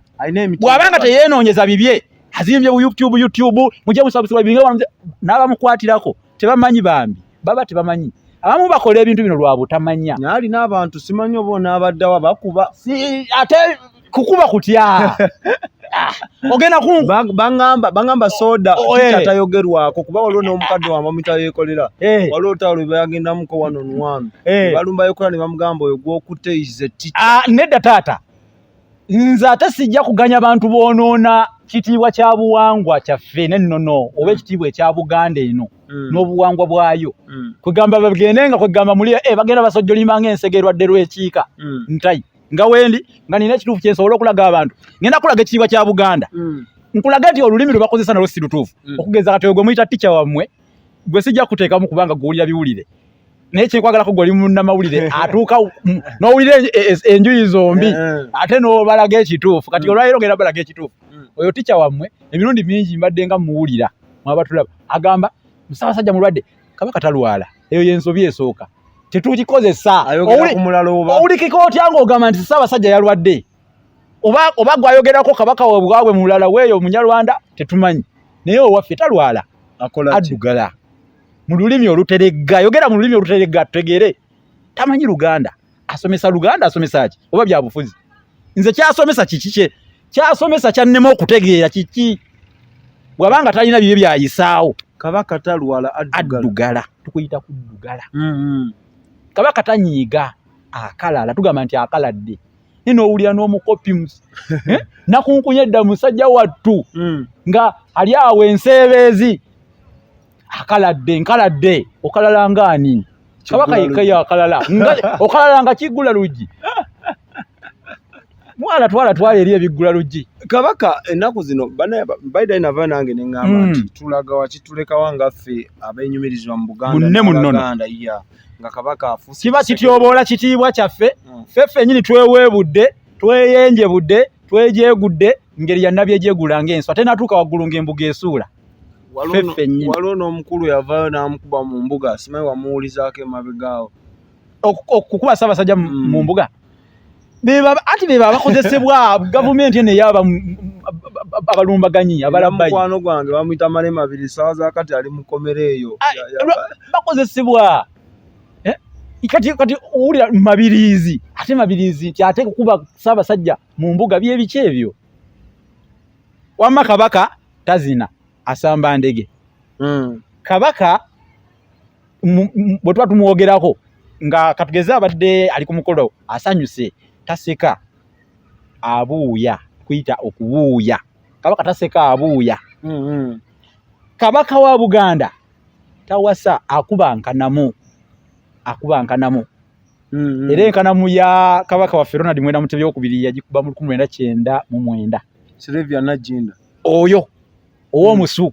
bwaba nga teyenoonyeza bibye azimbye bu YouTube YouTube mujja musabusibwa binga n'abamukwatirako tebamanyi bambi. baba tebamanyi abamu bakola ebintu bino lwa butamanya naye alina abantu simanyi oba onaabaddawa bakuba ate kukuba kutya ah, ogenda ku bangamba bangamba soda oh, eh. atayogerwako kuba waliwo n'omukadde wa mamita yeekolera eh. waliwo olutalo lwe bayagendamuko wano nuwami eh. balumba yokola ne bamugamba oyo gw'okutte ize tita ah, nedda taata nze ate sijja kuganya bantu boonoona kitiibwa kya buwangwa kyaffe nennono oba mm. ekitiibwa ekya buganda eno mm. n'obuwangwa bwayo mm. kwegamba bagende nga kwegamba muli eh, bagenda basojjolimba nga ensega erwadde lw'ekiika ntai nga wendi nga nina ekituufu kyensobola okulaga abantu ngenda kulaga ekitiibwa kya buganda nkulaga nti olulimi lwe bakozesa nalwo si lutuufu okugeza kati ogwe muyita tica wammwe gwe sijja kuteekamu kubanga gwewulira biwulire naye kyekwagalako gwali munamawulire atuuka nowulira e, e, e, enjuyi zombi eh, eh. ate nobalaga ekituufu kati mm. olwaleero ngenda balaga ekituufu mm. oyo tica wammwe emirundi mingi mbadde nga muwulira mwabatulaba agamba musabasajja mulwadde kabaka talwala eyo yensobi esooka tetukikozesa owulikika otya ngaogamba nti sabasajja yalwadde oba oba gwayogerako kabaka wabwabwe mulala weeyo omunyarwanda tetumanyi naye owaffe talwala addugala mu lulimi oluteregga yogera mu lulimi oluteregga tutegere tamanyi luganda asomesa luganda asomesa ki oba byabufuzi nze kyasomesa kiki kye kyasomesa kyannema okutegeera kiki bwabanga talina bibye byayisaawo kabaka talwala addugala tukuyita kuddugala mm-hmm. kabaka tanyiiga akalala tugamba nti akaladde naye nowulira n'omukopi eh? nakunkunya edda musajja wattu hmm. nga ali awo enseebeezi akaladde nkaladde okalala ngaani kabaka yekayo akalala okalala nga kiggula luggi mwana twala twala eri ebiggula luggi kabaka ennaku zino baidai nava nange neŋamba hmm. nti tulaga wakitulekawa ngaffe abenyumirizibwa mu buganda munne munono nga kabaka afuuse kiba kityoboola kitiibwa kyaffe hmm. ffe ffenyini tweweebudde tweyenjebudde twejegudde ngeri yannabye gyegula ng'ensi ate natuuka waggulu ng'embuga esuula waliwo n'omukulu yavaayo n'amukuba mu mbuga simanyi wamuwulizaako emabegaawo okukuba ssaabasajja mu hmm. mbuga anti beba abakozesebwa gavumenti eno eyaba abalumbaganyi abalamukwano gwange bamwita male mabiri sawa zakati ali mukomera eyo ah, bakozesebwa eh? kati kati owulira mabirizi ate mabirizi nti ate kukuba saabasajja mu mbuga byebiki ebyo wamma kabaka tazina asamba ndege mm. kabaka bwe tuba tumwogerako nga katugeze abadde ali ku mukolo asanyuse taseka abuuya kuyita okubuuya kabaka taseka abuuya mm-hmm. kabaka wa buganda tawasa akuba nkanamu akuba nkanamu mm-hmm. era enkanamu ya kabaka waffe ronald mwenda mutebi okubiri yagikuba mu lukumi lwenda kyenda mu mwenda oyo ow'omusu mm.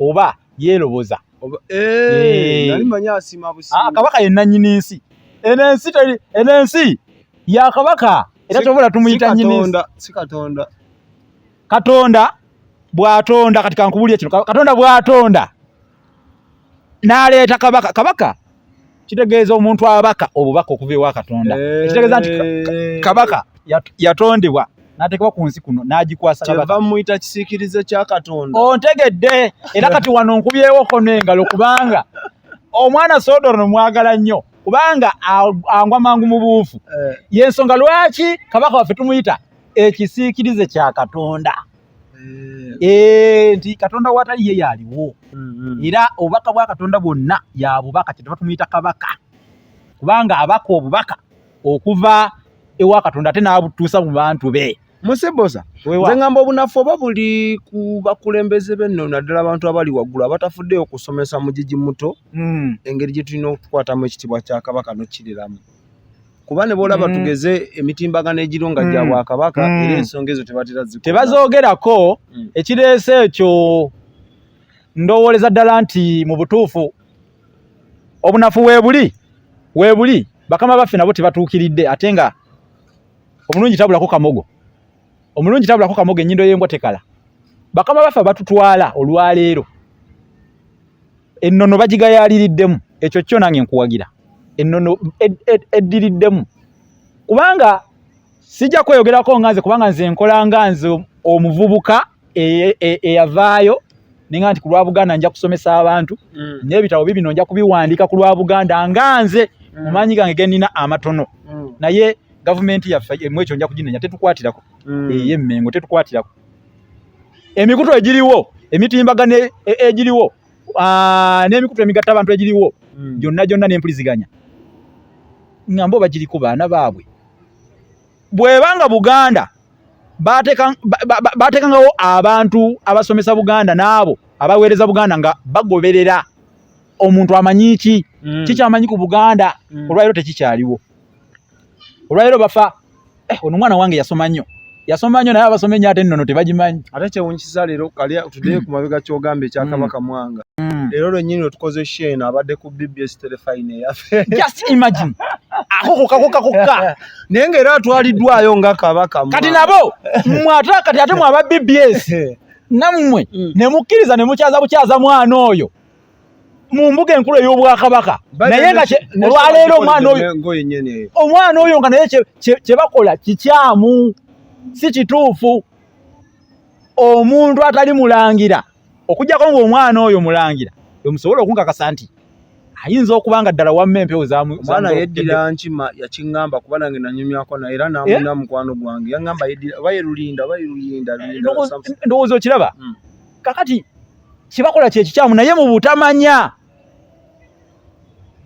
oba yeeroboza eh, eh. ah, kabaka ye nannyini nsi eno ensi eno ensi ya kabaka era kyobola tumuyita nyini katonda bwatonda kati kankubulire kino katonda bwatonda naleeta kabaka kabaka kitegeeza omuntu abaka obubaka okuva ewa katonda eh. ekitegeeza nti kabaka yatondebwa natekebwa ku nsi kuno nagikwasabamuyita kisiikirize kya katonda ontegedde era kati wano nkubyewo kono engalo kubanga omwana sodoro nomwagala nnyo kubanga angwa mangu mu buufu eh. yensonga lwaki kabaka waffe tumuyita ekisiikirize kya katonda Eh, eh, nti katonda watali ye yaliwo mm-hmm. era obubaka bwa katonda bwonna yabubaka kyetuva tumuyita kabaka kubanga abaka obubaka okuva ewa katonda ate n'abutuusa mu bantu be musebosa nze ngamba obunafu oba buli ku bakulembeze benno naddala abantu abali waggulu abatafuddeyo okusomesa mugigi muto hmm. engeri gye tulina okukwatamu ekitibwa kya kabaka nokukiriramu kuba ne bwolaba mm. tugeze emitimbagano egiro nga gya mm. bwakabaka mm. era ensonga ezo tebatera zikona tebazoogerako ekireese ekyo ndowooleza ddala nti mu butuufu obunafu weebuli weebuli bakama baffe nabo tebatuukiridde ate nga omulungi tabulako kamogo omulungi tabulako kamoga enyindo yembwa tekala bakama baffe batutwala olwaleero ennono bagigayaliriddemu ekyo kyo nange nkuwagira ennono eddiriddemu kubanga sijja kweyogerako nga nze kubanga nze nkola nga nze omuvubuka e, e, eyavaayo e, e ninga nti ku lwa buganda nja kusomesa abantu mm. n'ebitabo bibino nja kubiwandiika ku lwa buganda nga nze mm. mu maanyi gange genina amatono mm. naye gavumenti yaffe emu ekyo nja kuginenya tetukwatirako mm. eye mmengo tetukwatirako emikutu egiriwo emitimbagano e, e, egiriwo n'emikutu emigatta abantu egiriwo mm. gyonna gyonna n'empuliziganya nga mbo bagiriko baana baabwe bweba nga buganda batekangawo abantu abasomesa buganda naabo abaweereza buganda nga bagoberera omuntu amanyi ki mm. kikyamanyi ku buganda mm. olwaliro tekikyaliwo olwaliro bafa eh, ono mwana wange yasoma nnyo yasoma nnyo naye abasoma enyo ate ennono tebagimanyi ate kyewunyisiza leero kali tudeyo ku mabega kyogamba ekya mm. kabaka mwanga leero lwenyini lwetukoze sheeno abadde ku bbs telefine eyaffe just imagine akokokakokakokka naye nga era atwaliddwayo nga kabaka kati nabo mwe ate kati ate mwe aba bbs nammwe mm. ne mukkiriza ne mukyaza bukyaza mwana oyo mu mbuga enkulu ey'obwakabaka naye nga olwaleero omwana oyo omwana oyo nga naye kye bakola kikyamu si kituufu omuntu atali mulangira okujjako ng'omwana oyo mulangira emusobola okunkakasa nti ayinza okuba nga ddala wamma empewo zamwana yeddira nkima yakiŋŋamba kuba nange nanyumyako naye era namuna eh? mukwano gwange yaŋŋamba yeddira oba yerulinda oba yeruyinda ndowooza okiraba hmm. kakati kyebakola kyekikyamu naye mu butamanya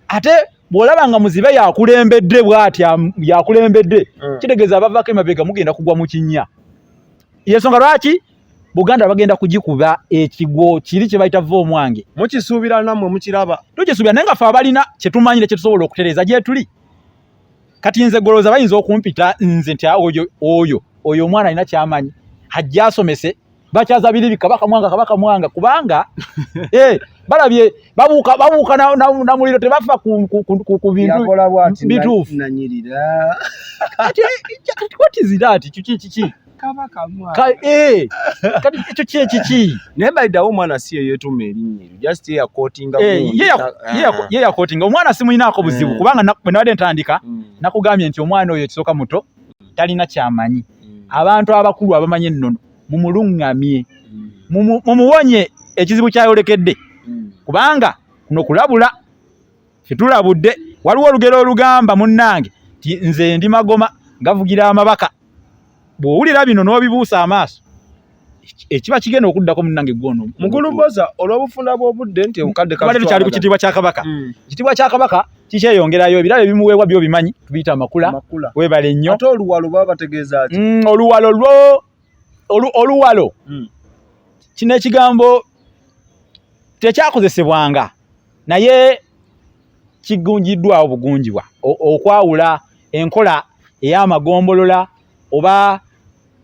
ate bw'olaba nga muzibe yakulembedde bw'atya yakulembedde hmm. kitegeeza abavaako emabega mugenda kugwa mu kinnya yensonga lwaki buganda bagenda kugikuba ekigwo kiri kye bayita va omwange mukisuubira nammwe mukiraba tukisuubira naye nga fe abalina kye tumanyire kye tusobola okutereeza gyetuli kati nze goloza bayinza okumpita nze nti oyo oyo oyo omwana alina kyamanyi hajja asomese bakyaza biribi kabaka mwanga kabaka mwanga kubanga eh balabye babuka babuka na, na, na muliro tebafa ku ku, ku, ku, ku bintu bitufu nanyirira kati what is that chichi chichi kaba kamwa ka, eh, kati ekyo kye kiki naye balidawo omwana si ye yeetuma erinnya eryo just ye yakotinga eh, ah. ye yakotinga omwana simulinaako buzibu mm. kubanga bwe nabadde ntandika mm. nakugambye nti omwana oyo ekisooka muto talina kyamanyi mm. abantu abakulu abamanyi ennono mumuluŋŋamye mumuwonye ekizibu kyayolekedde kubanga kuno kulabula Fitulabudde waliwo olugero olugamba munnange nti nze ndi magoma gavugira amabaka bw'owulira bino n'obibuusa amaaso ekiba kigenda okuddako munnange gwono mukulu mboza olw'obufunda bw'obudde nti obukadde kabadde tukyali ku kitiibwa kya kabaka mm. ekitiibwa kya kabaka kikyeyongerayo ebirabo ebimuweebwa byo bimanyi tubiyita amakula webale nnyo ate oluwalo baba bategeeza ki mm, oluwalo lwo oluwalo hmm. kino ekigambo tekyakozesebwanga naye kigunjiddwawo bugunjibwa okwawula enkola ey'amagombolola oba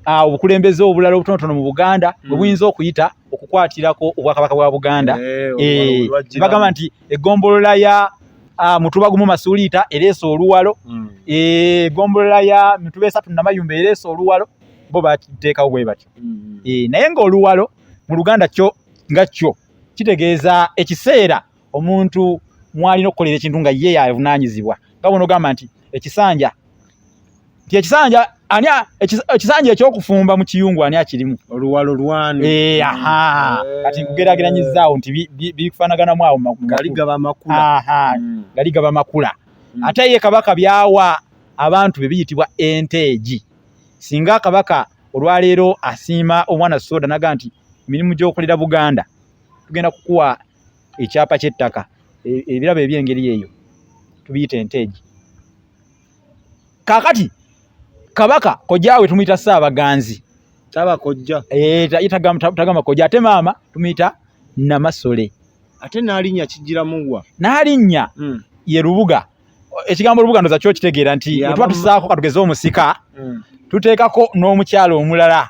Ah, obukulembeze obulala obutonotono mu buganda mm. bwe buyinza okuyita okukwatirako obwakabaka bwa buganda eh, eh, bagamba nti egombolola ya ah, mutuba gumu masuuliita ereesa oluwalo mm. eh, egombolola ya mituba esatu namayumba ereesa oluwalo bo bateekawo bwe batyo mm-hmm. eh, naye ng'oluwalo mu luganda kyo nga kyo kitegeeza ekiseera omuntu mwalina okukolera ekintu nga ye yavunaanyizibwa nga bona ogamba nti ekisanja nti ekisanja ani ekisanja ekyokufumba mu kiyungu ani akirimu oluwalo lwanu eh, kati nkugerageranyizaawo nti bifanaganamu awo gali gaba makula mm. ate ye kabaka byawa abantu be biyitibwa enteegi singa akabaka olwaleero asiima omwana soda naga nti mirimu gyokolera buganda tugenda kukuwa ekyapa kyettaka e, ebirabo ebyengeri eyo tubiyita enteegi kakati kabaka kojawe tumuyita saabaganzi eh, tagama koja ate maama tumuyita namasole ate nalinya kijiramuwa nalinya hmm. ye lubuga ekigambo olubuga ndoza kyo kitegeera nti etuba tusaako katugeze omusika mm. tuteekako n'omukyalo omulala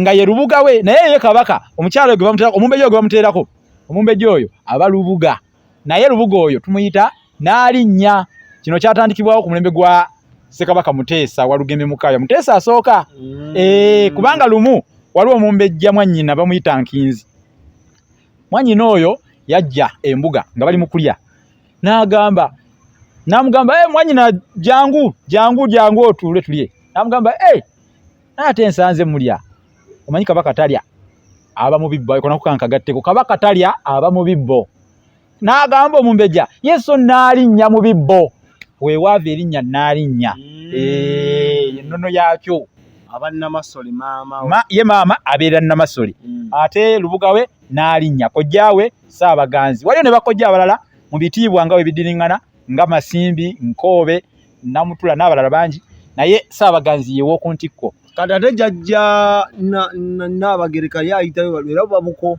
nga ye lubuga we naye ye kabaka omukyalo omumbejja gwe bamuteerako omumbejja oyo aba lubuga naye lubuga oyo tumuyita n'alinnya kino kyatandikibwawo ku mulembe gwa ssekabaka muteesa walugembe mukaya muteesa asooka mm. eh, kubanga lumu waliwo omumbejja mwannyina bamuyita nkinzi mwanyina oyo yajja embuga nga bali mu kulya n'agamba n'amugamba e eh, mwanyina jangu jangu jangu otuule tulye n'amugamba e eh, naate ensanze mulya omanyi kabaka talya aba mu bibbo ayikona kukankagatteko kabaka talya aba mu bibbo n'agamba omumbeja yesu naalinnya mu bibbo weewaava erinnya naalinnya mm. eh, ennono yaakyo ye maama abeera namasole mm. ate lubuga we n'alinnya kojja we saabaganzi waliyo ne bakojja abalala mu bitiibwa nga webidiringana nga masimbi nkoobe namutula n'abalala bangi naye saabaganzi yew'oku ntikko kati ate jajja naabagereka ye ayitayo era babuko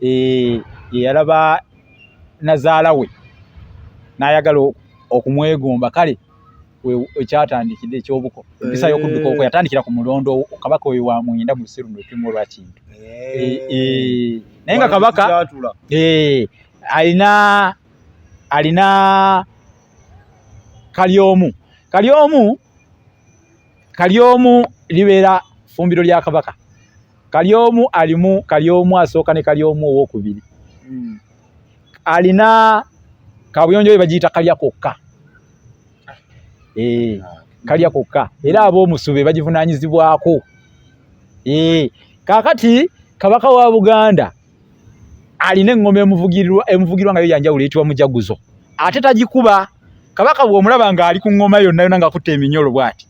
yeyalaba nazaala we n'ayagala okumwegomba kale ekyatandikidde ekyobuko empisa eh. y'okudduka okwo yatandikira ku mulondo kabaka oyo wa mwenda mu lusiru nolutimu olwa kintu eh. Eh, naye nga kabaka alina alina kalyomu kalyomu kalyomu libeera fumbiro lya kabaka kalyomu alimu kalyomu asooka ne kalyomu owokubiri hmm. alina kabuyonjo we bagiyita kalya kokka eh, kalya kokka era ab'omusu be bagivunanyizibwako eh, kakati kabaka wa buganda alina eŋŋoma emuvugirwa emuvugirwa nga yo yanjawulo eyitibwa mujaguzo ate tagikuba kabaka bw'omulaba ng'ali ku ŋŋoma yonna yonna ng'akutte eminyolo bw'ati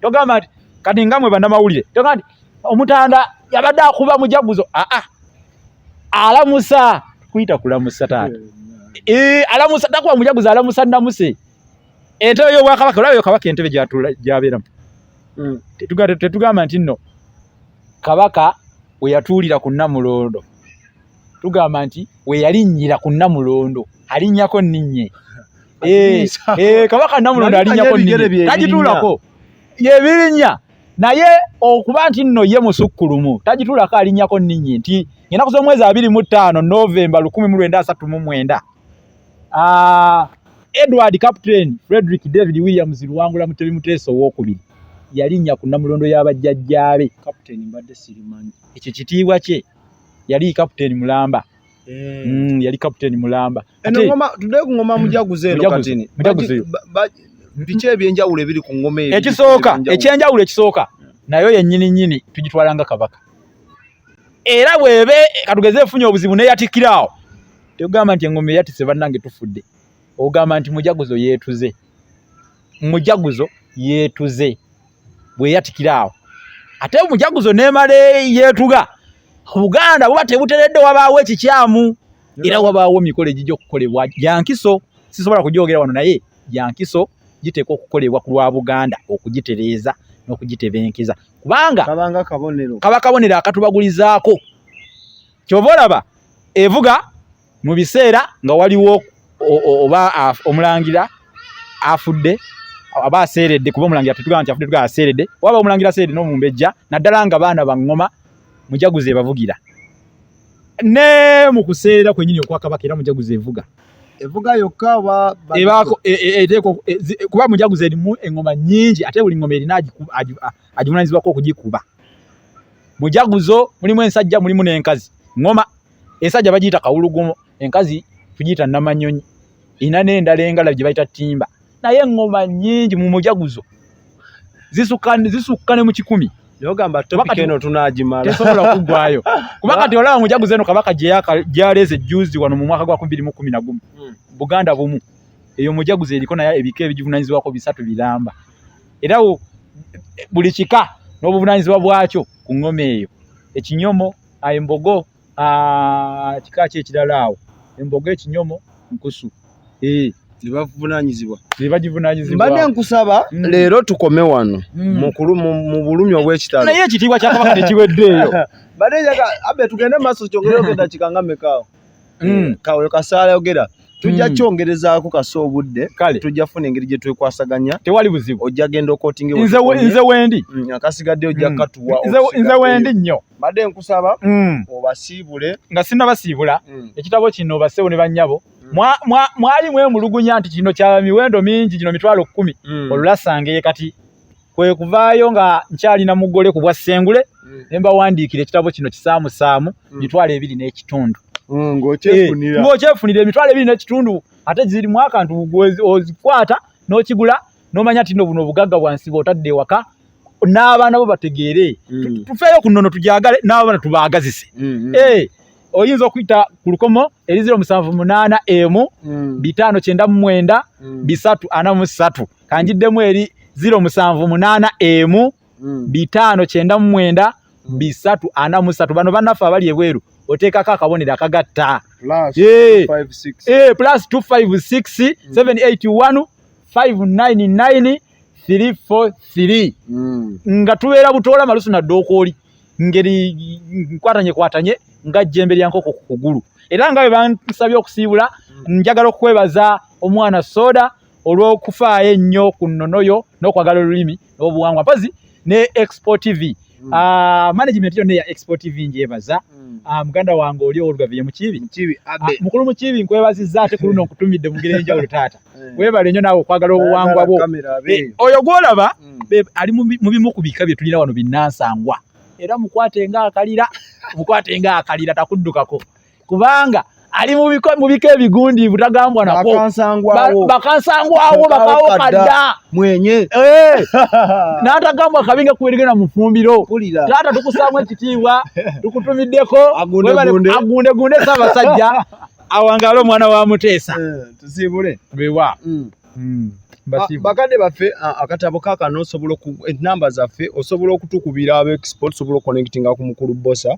togamba nti kati nga mwe bannamawulire togamba nti omutanda yabadde akuba mujaguzo aa alamusa kuyita kulamusa taata eh, alamusa takuba mujaguzo alamusa namuse entebe y'obwakabaka olaba yo kabaka entebe gyabeeramu hmm. tetugamba nti nno kabaka we yatuulira ku nnamulondo tugamba nti we yalinnyira ku nnamulondo alinnyako nninnye eh, eh, kabaka nnamulondo alinnyako nninnye tagituulako yebirinnya naye okuba nti nno ye musukkulumu tagituulako alinnyako nninnye nti ennaku z'omwezi abiri mu ttaano novemba lukumi mu lwenda asatu mu mwenda Ah, Edward Captain Frederick David Williams Luwangula Mutebi Muteesa owokubiri yalinnya ku nnamulondo ya bajjajjaabe. Captain mbadde sirimanyi. Ekyo kitiibwa kye yali captain mulamba. Eh. Mm, yali captain mulamba. Eno ngoma tudde ku ngoma mujaguze eno katini. Mujaguze. Biki ebyenjawulo ebiri ku ngoma eyo? Ekisooka, ekyenjawulo ekisooka. Nayo yennyini nnyini tugitwala nga kabaka. Era bw'ebe katugeze efunye obuzibu n'eyatikkira awo. Tugamba nti engoma eyatise bannange tufudde. Ogamba nti mujaguzo yeetuze. Mujaguzo yeetuze. Bweyatikira awo. Ate mujaguzo neemala yeetuga. Obuganda buba tebuteredde wabaawo ekikyamu. Era wabaawo emikolo egijja okukolebwa gya nkiso. Sisobola kugyogera wano naye gya nkiso giteekwa okukolebwa ku lwa Buganda okugitereeza n'okugitebenkeza. Kubanga kaba kabonero akatubagulizaako. kyova olaba evuga mu biseera nga waliwo oba omulangira afudde aba aseeredde kuba omulangira tetugamba nti afudde tugamba aseeredde waba omulangira aseeredde n'omumbejja naddala nga baana baŋŋoma mujaguzi ebavugira ne mu kuseera kwenyini okwakabaka era mujaguzi evuga evuga yokka oba ebaako e, e, e, kuba mujaguzi erimu eŋŋoma nnyingi ate buli ŋŋoma erina agivunaanyizibwako okugikuba mujaguzo mulimu ensajja mulimu n'enkazi ngoma ensajja bagiyita kawulugumo enkazi tugiyita namanyonyi ina n'endala engala gye bayita ttimba naye eŋŋoma nnyingi mu mujaguzo zisukka zisukka ne mu kikumi tesobola kuggwayo kuba kati olaba mujaguzo eno kabaka gyaleeze jjuuzi wano mu mwaka gwa kubiri mu kumi na gumu hmm. buganda bumu eyo mujaguzo eriko naye ebika ebigivunanyizibwako bisatu biramba era buli kika n'obuvunanyizibwa bwakyo ku ŋŋoma eyo ekinyomo embogo kika ki ekirala awo embogo ekinyomo nkusu nebavunanyizibwa nebagivunanyizibwa mbadde nkusaba mm. leero tukome wano mm. mukulu mu bulumi obw'ekitalo naye ekitiibwa kyakabaka tekiweddeeyo mbadde njaga abe tugende maaso kyongere ogenda kikanga mekaawo mm. eh, kawe kasaala yogera tujja hmm. kyongerezaako kasa obudde kale tujja funa engeri gye twekwasaganya tewali buzibu ojja genda okotinge nze nze wendi hmm, akasigadde ojja hmm. katuwa nze nze wendi nnyo mbadde nkusaba obasiibule nga sinna basiibula ekitabo kino basewo ne bannyabo mwali mwemulugunya nti kino kya miwendo mingi gino mitwalo kkumi olulasangaye kati kwe kuvaayo nga nkyalina mugole ku bwa ssengule mm. ne mbawandiikira ekitabo kino kisaamusaamu mm. mitwalo ebiri n'ekitundu mm, ng'okyefunira eh, emitwalo ebiri n'ekitundu ate zirimu akantu ozikwata n'okigula n'omanya tino buno obugagga bwansi bw'otadde ewaka n'abaana bo bategeere tufeeyo ku nnono tugyagale n'abaana tubaagazise mm-hmm. eh, oyinza okuyita ku lukomo eriziro musanvu munaana emu bitaano kyenda mu mwenda bisatu ana mu ssatu kanjiddemu eri ziro musanvu munaana emu mm. bitaano kyenda mu mwenda mm. bisatu ana musatu bano banaffe abali ebweru oteekako akabonero akagatta plus 256 781 599 343 nga tubeera butoola malusu nadde okwoli ngeri nkwatanye kwatanye nga jjembe lya nkoko ku kugulu era nga bwe bansabye okusiibula mm. njagala okukwebaza omwana soda olw'okufaayo ennyo ku nnono yo n'okwagala olulimi n'obuwangwa mpazi ne expo tv mm. ah, management yonna eya expo tv njebaza mm. ah, muganda wange oli owolugaviye mukiibi ah, mukulu mukiibi nkwebazizza ate ku luno nkutumidde mu ngeri enjawulo taata eh. webale nnyo naawe okwagala obuwangwa bwo eh, oyo gwolaba mm. ali mu bimu ku bika bye tulina wano binnansangwa era mukwate nga akalira mukwate nga akalira takuddukako kubanga ali mu biko mu biko ebigundiivu tagambwa nako bakansangwawo bakansangwawo bakawo kadda mwenye eh natagambwa kabinga kuwerige na mufumbiro tata tukusamu ekitiibwa tukutumiddeko agunde gunde agunde gunde saba sajja awangale omwana wa muteesa eh, tusibule bewa mm. Mm. Ah, bakadde baffe ah, akatabo kakano osobola enamba zaffe osobola okutukubira abaexport osobola okuconnectinga ku mukulu bosa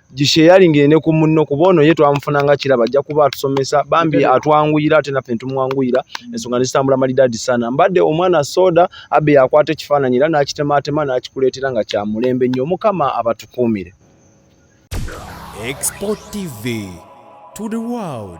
gisheyalinge ne ku munno kuba ono ye twamufuna nga kiraba ajja kuba atusomesa bambi atwanguyira ate naffe netumwanguyira ensonga nezitambula malidaadi sana mbadde omwana soda abbe yakwata ekifaananyi era n'akitemaatema n'akikuleetera nga kya mulembe nnyo mukama abatukuumire Export TV to the world.